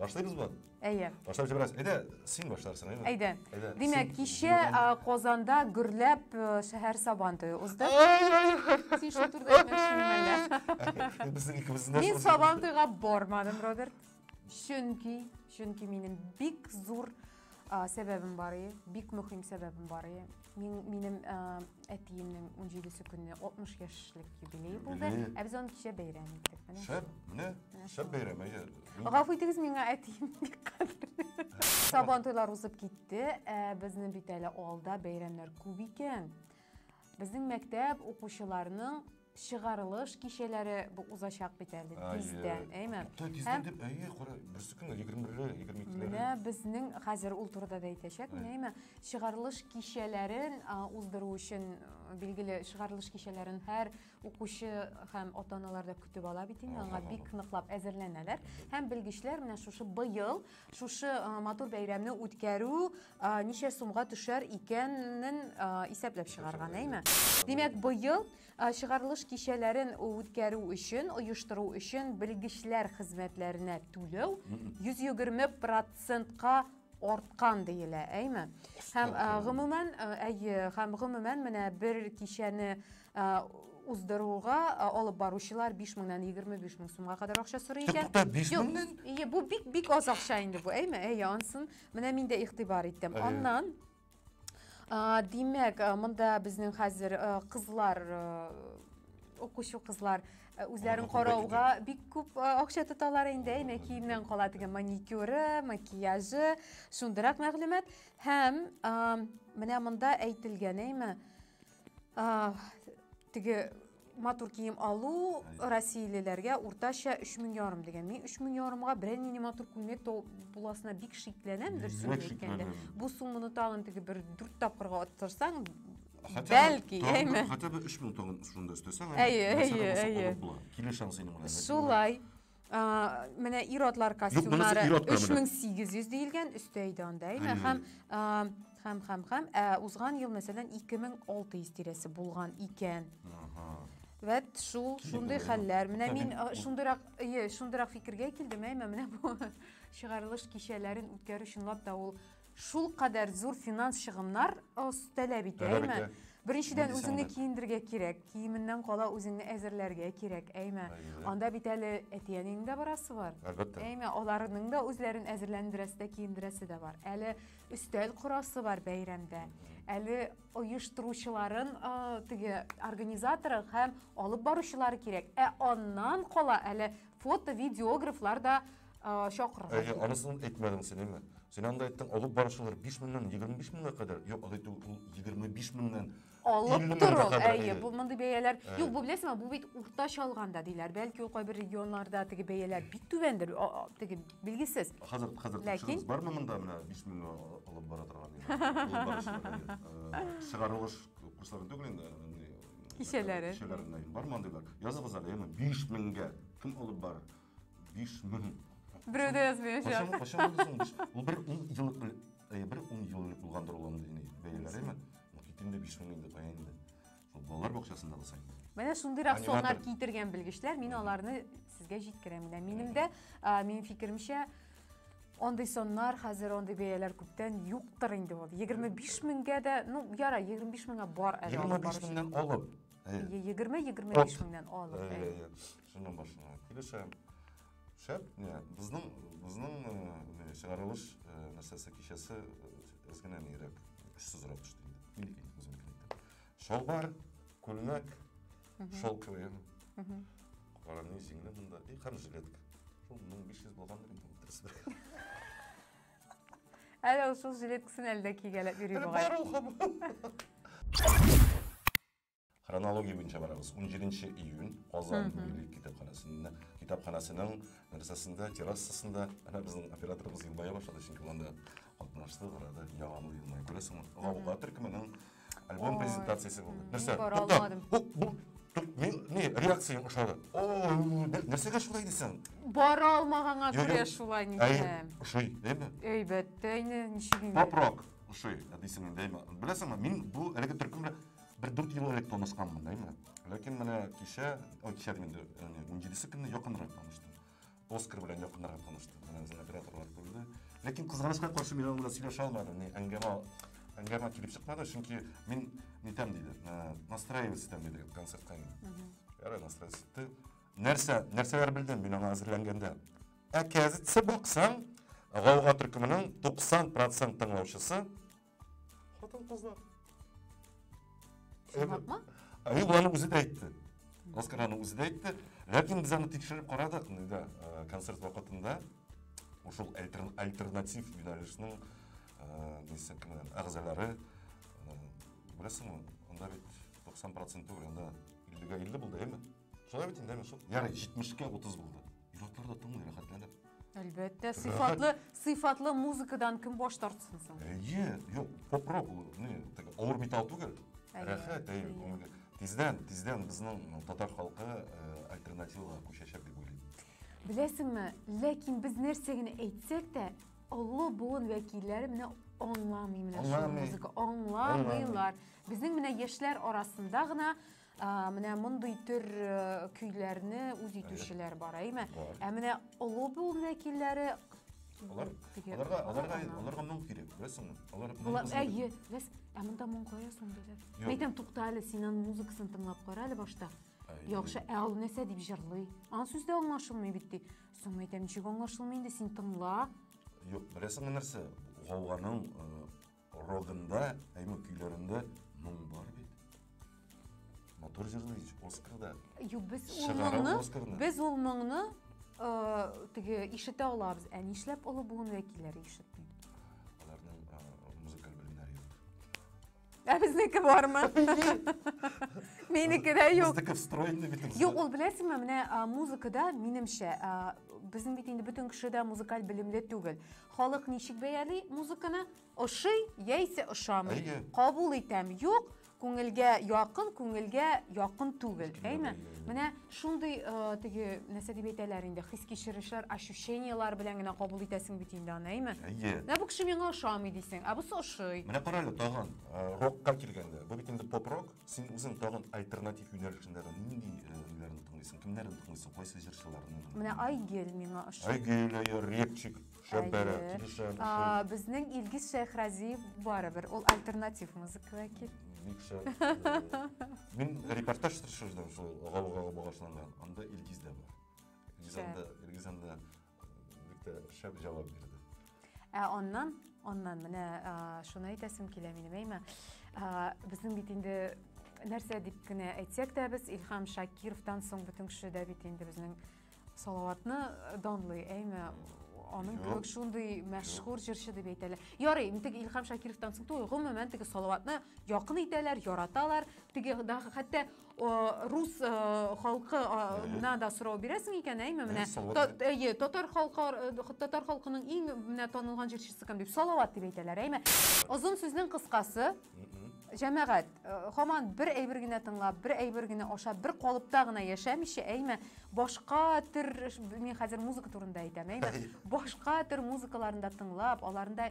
Башлыйбыз бу? Әйе. Башлап җибәрәс. Әйдә, син башларсың, әйме? Әйдә. Әйдә. Димәк, кичә Казанда гөрләп шәһәр сабан туе узды. Син шул турыда әйтмәкчеме әллә? Безнең икебезнең Мин сабан туйга бармадым, Роберт. Чөнки, чөнки минем бик зур А, сәбәбем бар и, бик мөһим сәбәбем бар и. Мин, минем а, әтиемнең 17 көнне 60 яшьлек юбилей булды. Юбилей. Ә без аны кичә бәйрәм иттек. Менә. Шәп, менә, шәп бәйрәм, әйе. Гафу итегез, миңа әтием бик кадерле. Сабан туйлар узып китте. Ә, безнең бит әле алда бәйрәмнәр күп икән. Безнең мәктәп укучыларының чыгарылыш кичәләре бу узачак бит әле тиздән, әйме? Тиздән дип, әйе, кара, берсе көн 21-ле, 22-ле. Менә безнең хәзер ул турыда да әйтәчәк, әйме? Чыгарылыш кичәләрен уздыру өчен билгеле чыгарылыш кичәләрен һәр укучы һәм ата-аналар да көтеп ала бит инде, аңа бик ныклап әзерләнәләр. Һәм белгечләр менә шушы быел Шушы матур бәйрәмне үткәрү ничә сумга төшәр икәнен исәпләп чыгарган, әйме? Димәк, быел чыгарылыш кичәләрен үткәрү өчен, оештыру өчен белгечләр хезмәтләренә түләү 120 процентка арткан диелә, әйме? Һәм гомумән, әйе, һәм гомумән менә бер кичәне уздыруга алып баручылар 5 меңнән 25 мең сумга кадәр акча сорый икән. Тукта 5 меңнән? Ие, бу бик бик аз акча инде бу, әйме? Әйе, ансын менә мин дә игътибар иттем. Аннан димәк, монда безнең хәзер кызлар укучы кызлар үзләрен карауга бик күп акча тоталар инде, әйме? Киемнән кала теге маникюры, макияжы, шундыйрак мәгълүмат. Һәм менә монда әйтелгән, әйме? теге матур кием алу россиялеләргә уртача өч мең ярым дигән мин өч мең ярымга берәр нинди матур күлмәк буласына бик шикләнәм дөресен әйткәндә бу сумманы тагын теге бер дүрт тапкырга арттырсаң бәлки әйме хотя бы өч мең тагын шунда өстәсәң әйе әйе әйе килү шансы шулай А, менә ир-атлар костюмнары 3800 диелгән, өстә әйдә анда, әйме? Хәм, хәм, хәм, хәм, ә узган ел, мәсәлән, 2600 тирәсе булган икән. Ага. Вәт, шул, шундый хәлләр. Менә мин шундырак, ие, шундырак фикергә килдем, әйме, менә бу чыгарылыш кичәләрен үткәрү чынлап та ул Шул кадәр зур финанс чыгымнар таләп итә, әйме? Беренчедән, үзеңне киендергә кирәк, киеменнән кала үзеңне әзерләргә кирәк, әйме? Анда бит әле әти-әнинең дә барасы бар. Әлбәттә. Әйме, аларның да үзләрен әзерләндерәсе дә, киендерәсе дә бар. Әле өстәл корасы бар бәйрәмдә. Әле оештыручыларын теге организаторы һәм алып баручылары кирәк. Ә аннан кала әле фото-видеографлар да а, чокыр. Әйе, э, анысын әйтмәдем син, әйме? Син анда әйттең, алып барышылар 5 меңнән 25 меңгә кадәр. Юк, алай түгел, ул 25 меңнән алып тору. Әйе, бу мондый бәяләр. Э. Юк, бу беләсеңме, бу бит уртача алганда диләр. Бәлки ул кайбер регионнарда теге бәяләр бик түбәндер, теге билгесез. Хәзер хәзер тикшерү бармы монда менә 5 меңгә алып бара торган э, Чыгарылыш курсларын түгел инде, кичәләре. Кичәләренә бармандыйлар. Языгыз әле, 5 меңгә кем алып барыр? Биш мең. Берәү дә язмаячак. Кайчан, кайчан булды соң? Биш- Ул бер ун еллык бел- э, бер ун ел элек булгандыр ул андый инде бәяләре ме? Ну, кит инде биш мең инде кая инде. Шул балалар бакчасында булса инде. Менә шундыйрак Аниматор. соннар китергән белгечләр, мин аларны сезгә җиткерәм. Менә минем дә, а, минем фикеремчә, андый соннар хәзер андый бәяләр күптән юктыр инде ул. 25 меңгә дә, ну, ярай, 25 меңгә бар әле. алып 25 баручы. меңнән алып. э, Е- 20-25 От. меңнән алып. э, әйе. э, Шуның башына килешәм. Шәп, не, безнең, безнең не, чыгарылыш нәрсәсе кичәсе әз генә нирәк, көчсезрәк төште инде. Минеке инде, үзем әйтәм. Шалбар, күлмәк, шол кеем. Караны җиңле монда, и һәм жилет. Шул 1500 булгандыр инде дөресрәк. Әле ул шул жилеткасын әле дә кигәләп йөри бугай. Бар ул һаман. Хронология буенча барабыз. 17 июнь Казан милли китапханәсендә, китапханәсенең нәрсәсендә, террасасында әнә безнең операторыбыз елмая башлады, чөнки ул анда катнашты, карады, яңаны елмая. Күрәсеңме? Гауга төркеменең альбом презентациясе булды. Нәрсә? Бу мин ни реакцияң ошады. О, нәрсәгә шулай дисең? Бара алмаганга күрә шулай нисәм. Ошый, дәйме? Әйбәттә инде, ничек инде. Попрок ошый, дисең дәйме? Беләсеңме, мин бу әлеге төркем белән Бер дүрт ел элек танышканмын, әйме. Ләкин менә кичә, ой, кичә дим инде, яни 17 көнне якынрак таныштым. Оскар белән якынрак таныштым. Менә үзен операторлар күрде. Ләкин кызганычка каршы мин аның белән сөйләшә алмадым. Ни әңгәмә әңгәмә килеп чыкмады, чөнки мин нитәм диде, э, настраивать итәм диде концертка инде. Ярый, настраивать итте. Нәрсә, нәрсәләр белдем мин аңа әзерләнгәндә? Ә кәзитсе баксаң, гауга төркеменең 90% тыңлаучысы Хатын-кызлар. Чынлапмы? Әйе, боларның үзе дә әйтте. Оскараның үзе дә әйтте. Ләкин без аны тикшереп карадык, да, э, концерт вакытында ушул альтернатив юнәлешнең э, нисә кемнәр әгъзалары э, беләсеңме, анда бит 90% түгел, анда 50-га 50 булды, әйеме? Шулай бит инде, шул. Ярый, 70-кә 30 булды. Ир-атлар да тыңлый рәхәтләнеп. Әлбәттә, сыйфатлы, сыйфатлы музыкадан кем баш тартсын соң? Әйе, юк, поп-рок ул, не, так, авыр металл түгел. Әйе, Рәхәт, әйе, әйе. күңелгә. Тиздән, тиздән безнең татар халкы э, альтернативага күчәчәк дип уйлыйм. Беләсеңме, ләкин без нәрсә генә әйтсәк тә, олы буын вәкилләре менә аңламый менә шул Аңламый. музыка, аңламыйлар. Безнең менә яшьләр арасында гына Ә, менә мондый төр э, көйләрне үз итүчеләр бар, әйме? Бар. Ә менә олы бул вәкилләре Алар, Теге- аларга, аларга, Ана. аларга моң кирәк, беләсеңме? Алар моң Алар, кызмады. әйе, ләс, ә монда моң кая соң диләр. Юк. Мен әйтәм, тукта әле, син аның музыкасын тыңлап кара әле башта. Әй. Яхшы, ә ул нәрсә дип җырлый? Аның сүз дә аңлашылмый бит ди. Соң мен әйтәм, ничек аңлашылмый инде, син тыңла. Юк, беләсеңме нәрсә? Гауганың э, Родында, әйме көйләрендә моң бар бит. Матур җырлый, Оскарда. Юк, без ул моңны, без ул моңны э, теге ишетә алабыз. Ә нишләп олы буын вәкилләре ишетми? Аларның э, музыкаль белемнәре юк. Ә безнеке бармы? Минеке дә юк. Безнеке встроенный бит. Юк, ул беләсеңме, менә музыкада минемчә, безнең бит инде бөтен кеше дә музыкаль белемле түгел. Халык ничек бәяли музыканы? Ошый яисә ошамый? Әйе. Кабул итәм, юк, күңелгә якын, күңелгә якын түгел, Мөмкин әйме? дә бәйле. Менә шундый э, теге нәрсә дип әйтәләр инде, хис кичерешләр, ощущениялар белән генә кабул итәсең бит инде аны, әйме? Әйе. Менә бу кеше миңа ошамый дисең, ә бусы ошый. Менә карале тагын э, рокка килгәндә. Бу бит инде поп-рок. Син үзең тагын альтернатив юнәлешендә нинди ниләрне тыңлыйсың? Кемнәрне тыңлыйсың? Кайсы җырчыларны? Менә Айгел миңа ошый. Айгел, әйе, репчик, шәп бәрә, килешә. Безнең Илгиз Шәйхразиев барыбер, ул альтернатив музыка вәкил. Бик шәп. Мин репортаж төшердем шул Гаугага багышланган. Анда Илгиз дә бар. Илгиз анда, Илгиз анда Бик тә шәп җавап бирде. Ә аннан, аннан менә шуны әйтәсем килә минем, әйме. Безнең бит инде нәрсә дип кенә әйтсәк тә без Илһам Шакировтан соң бөтен кеше дә бит инде безнең Салаватны данлый, әйме. Аның кебек шундый мәшһүр җырчы дип әйтәләр. Ярый, теге Илһам Шакировтан соң түгел, гомумән теге Салаватны якын итәләр, яраталар. Теге хәтта рус халкына да сорау бирәсең икән, әйме, менә әйе, татар халкы татар халкының иң менә танылган җырчысы кем дип, Салават дип әйтәләр, әйме. Озын сүзнең кыскасы, җәмәгать, хаман бер әйбер генә тыңлап, бер әйбер генә ашап, бер калыпта гына яшәмичә, әйме, башка төр, мин хәзер музыка турында әйтәм, әйме, башка төр музыкаларында тыңлап, аларында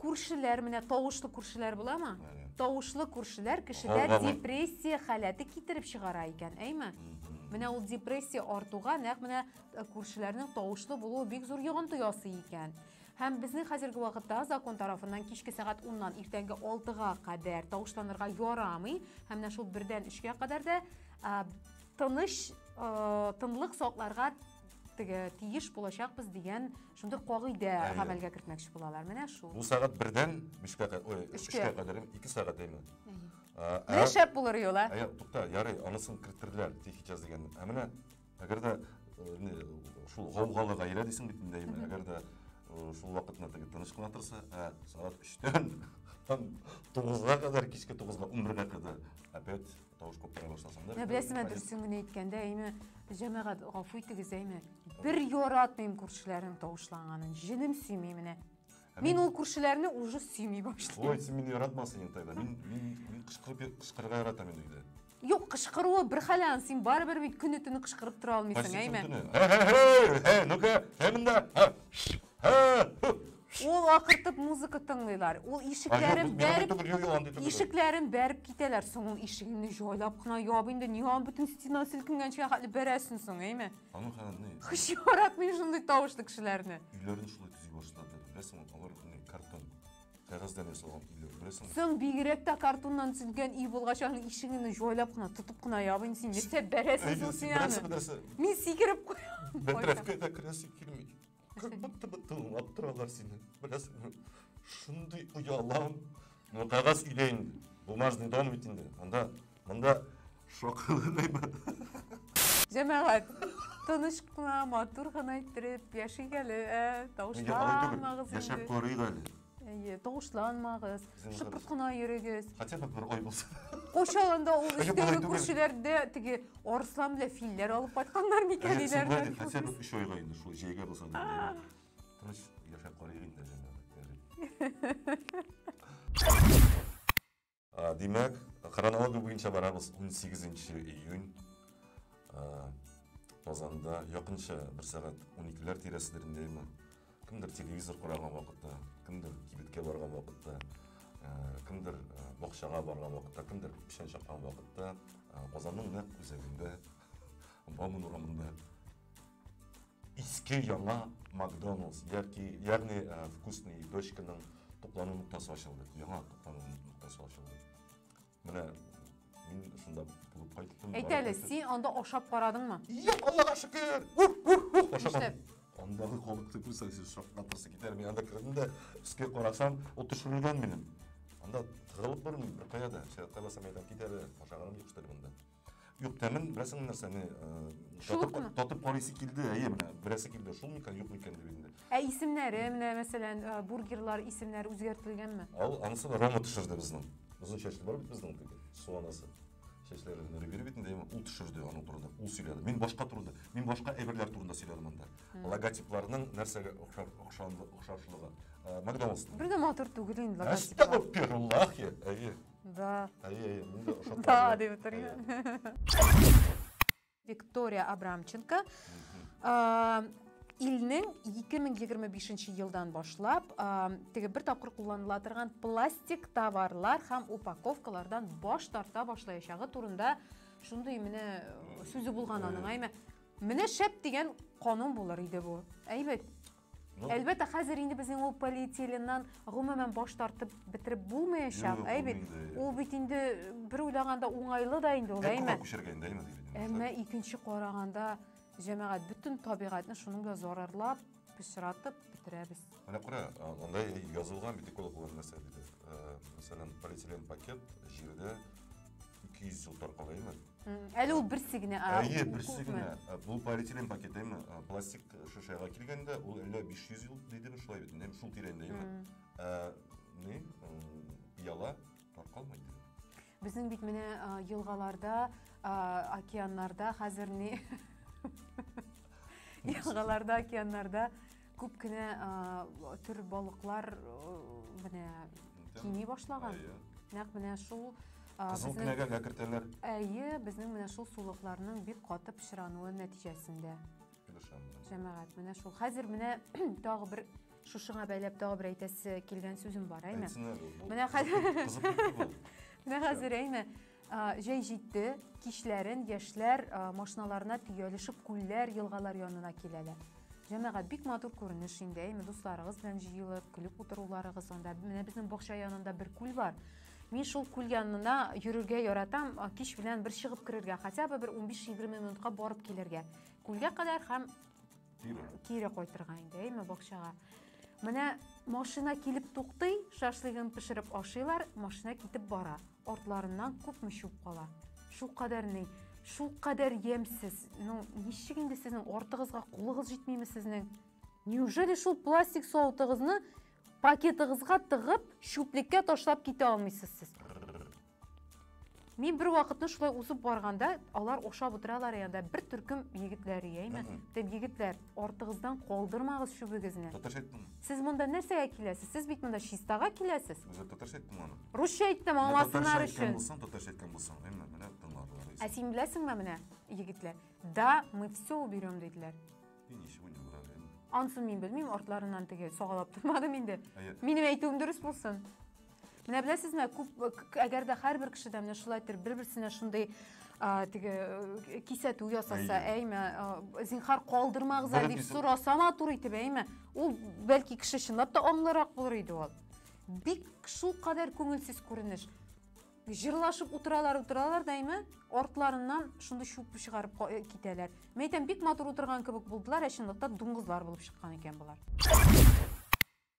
күршеләр менә тавышлы күршеләр буламы тавышлы күршеләр кешедә депрессия халәте китереп чыгара икән әйме менә ул депрессия артуга нәкъ менә э, күршеләрнең тавышлы булуы бик зур йогынты ясый икән һәм безнең хәзерге вакытта закон тарафыннан кичке сәгать уннан иртәнге алтыга кадәр тавышланырга ярамый һәм менә шул бердән өчкә кадәр дә тыныч э, тынлык сакларга теге тиеш булачакбыз дигән шундый кагыйдә гамәлгә кертмәкче булалар. Менә шул. Бу сәгать бердән бишкә ой, өчкә кадәр, ике сәгать әйме. Менә шәп булыр юла. Әйе, тукта, ярый, анысын керттерделәр, тихий час дигән. Ә менә әгәр дә шул гаугалы гаилә дисең бит инде, әгәр дә шул вакытны теге тыныч кына торса, ә сәгать өчтән там тугызга кадәр, кичке тугызга, унбергә кадәр опять Тавыш коптыра башласаң да. Ә беләсең, ә дөресен генә әйткәндә, әйме, җәмәгать, гафу итегез, әйме. Бер яратмыйм күршеләрнең тавышланганын. Җенем сөйми менә. Мин ул күршеләрне уже сөйми башлыйм. Ой, син мине яратмасын инде тогда. Мин мин кычкырып кычкырырга яратам инде өйдә. Юк, кычкыруы бер хәл аны, син барыбер бит көне-төне кычкырып тора алмыйсың, әйме. Һе-һе-һе! Ну-ка, һе монда. Ул акыртып музыка тыңлыйлар. Ул ишекләрен бәреп, ишекләрен бәреп китәләр. Соң ул ишегеңне җайлап кына яб инде. Нигә бөтен стена селкенгәнче хәтле бәрәсен соң, әйме? Аның хәлне. Хыш яратмый шундый тавышлы кешеләрне. Өйләрен шулай төзи башлады. Беләсең, алар не картон. Кәгазьдән ясалган өйләр, беләсең? Соң бигрәк тә картоннан төзелгән өй булгач, аның ишегеңне җайлап кына, тотып кына яб инде син. Нәрсә бәрәсен соң син аны? Мин сикереп куям. Бәтрәфкә дә керәсе килми. Как будто бы тыңлап торалар сине. Беләсеңме? Шундый оялам. Ну, кәгазь өйдә инде. Бумажный дом бит инде. Анда, монда шоколы гайбат. Җәмәгать, тыныч кына, матур гына иттереп яшик әле, ә, Нигә алай түгел? тавышламагыз Яшәп инде. карыйк әле. Әйе, тавышланмагыз, шыпырт кына йөрегез. Хотя бы бер ай булса. Кошалында ул өстәге күршеләрдә теге арыслан белән филләр алып кайтканнар микән диләрдер. Хотя бы 3 айга инде шул җәйгә булса да. Тыныч яшәп карыйк инде җәмәгать. Димәк, хронология буенча барабыз 18 июнь Казанда якынча бер сәгать 12-ләр тирәседер инде имин. Кемдер телевизор караган вакытта, кемдер кибеткә барган вакытта, кемдер бакчага барган вакытта, кемдер печән чаккан вакытта Казанның нәкъ үзәгендә Бауман урамында Иске яңа Макдоналдс, яки, ягъни э, вкусный дочканың туклану ноктасы ачылды. Яңа туклану ноктасы ачылды. Менә мин шунда булып кайттым. Әйт әле, син анда ашап карадыңмы? Юк, Аллага шөкер. Ух, ух, ух, ашамадым. Андагы халыкты күрсәң, син шаккатырсы китәр. Мин анда кердем дә, өскә карасам, ул төшерелгән минем. Анда тыгылып бер кая да, шәһәрдә басам әйдәп китәр, ашаганым юк, что ли, монда. Юк, тәмен беләсең нәрсә, не, э, Шул татып, кына. татып карыйсы килде, әйе, менә, беләсе килде, шул микән, юк микән дип инде. Ә исемнәре, менә мәсәлән, э, бургерлар исемнәре үзгәртелгәнме? Ал, анысы да Рома төшерде безнең. Озын чәчле бар бит безнең теге, суанасы. Чәчләре генә рибер бит инде, әйе, ул төшерде аның турында, ул сөйләде. Мин башка турында, мин башка әйберләр турында сөйләдем анда. Логотипларның нәрсәгә охшар, охшанлы, охшашлыгы. Э, Макдоналдс. Бер дә матур түгел инде Әстәгфируллахи, әйе. Да. Әйе, әйе, мин дә ошатмады. Да, дип бетерген. Виктория Абрамченко. Ә, Илнең 2025 елдан башлап ә, теге бер тапкыр кулланыла торган пластик товарлар һәм упаковкалардан баш тарта башлаячагы турында шундый менә сүзе булган аның, әйме. Менә шәп дигән канун булыр иде бу. Әйбәт. Әлбәттә, хәзер инде безнең ул полиэтиленнан гомумән баш тартып бетереп булмаячак, әй бит. Ул бит инде бер уйлаганда уңайлы да инде ул, әйме? Әмма икенче караганда, җәмәгать бөтен табигатьне шуның белән зарарлап, пычратып бетерәбез. Менә күрә, андай язылган бит экологлар нәрсә диде. Мәсәлән, полиэтилен пакет җирдә ике йөз сылтар кала имеш әле ул берсе генә әйе берсе генә бул полиэтилен пакет эми пластик шешага килгәндә ул әллә биш йөз ел дидеме шулай бит инде шул тирәндә эми ә не пыяла таркалмый безнең бит менә елгаларда океаннарда хәзер не елгаларда океаннарда Күп кенә төр балыклар менә кими башлаган. Нәкъ менә шул Кызыл кенәгә кертәләр. Әйе, безнең менә шул сулыкларның бик каты пычрануы нәтиҗәсендә. Җәмәгать, менә шул. Хәзер менә тагы бер шушыңа бәйләп тагы бер әйтәсе килгән сүзем бар, әйме? Менә хәзер Менә хәзер әйме? Җәй җитте, кичләрен яшьләр машиналарына төялешеп күлләр, елгалар янына киләләр. Җәмәгать бик матур күренеш инде, әйме, дусларыгыз белән җыелып, көлеп утыруларыгыз анда. Менә безнең бакча янында бер күл бар. Мин шул күл янына йөрергә яратам, кич белән бер чыгып керергә, хотя бы бер 15-20 минутка барып килергә. Күлгә кадәр һәм Кире. Кире кайтырга инде, әйме бакчага. Менә машина килеп туктый, шашлыгын пешереп ашыйлар, машина китеп бара. Артларыннан күпме чүп кала. Шул кадәр ни, шул кадәр ямьсез. Ну, ничек инде сезнең артыгызга кулыгыз җитмиме сезнең? Неужели шул пластик савытыгызны пакетыгызга тыгып, чүплеккә ташлап китә алмыйсыз сез? Мин бер вакытны шулай узып барганда, алар ошап утыралар янда бер төркем егетләр яйме? Тем егетләр, артыгыздан калдырмагыз чүбегезне. Татарча әйттеңме? Сез монда нәрсәгә киләсез? Сез бит монда чистага киләсез. Үзем татарча әйттем аны. Русча әйттем, аңласыннар өчен. Булсаң, татарча әйткән булсаң, әйме, менә тыңларлар. Ә син беләсеңме менә, егетләр? Да, мы все уберем диделәр. И ничего не убрали. Ансын мин белмим, артларыннан теге сагалап тормадым инде. Минем әйтүем дөрес булсын. Менә беләсезме, күп әгәр дә һәрбер кеше дә менә шулай итеп бер-берсенә шундый теге э, кисәтү ясаса, әйме, э, зинхар калдырмагыз дип сораса матур итеп, әйме, ул бәлки кеше чынлап та аңлырак булыр иде ул. Бик шул кадәр күңелсез күренеш. Җырлашып утыралар, утыралар да әйме, артларыннан шундый чүп чыгарып э, китәләр. Мәйтәм, бик матур утырган кебек булдылар, ә чынлыкта дуңгызлар булып чыккан икән болар.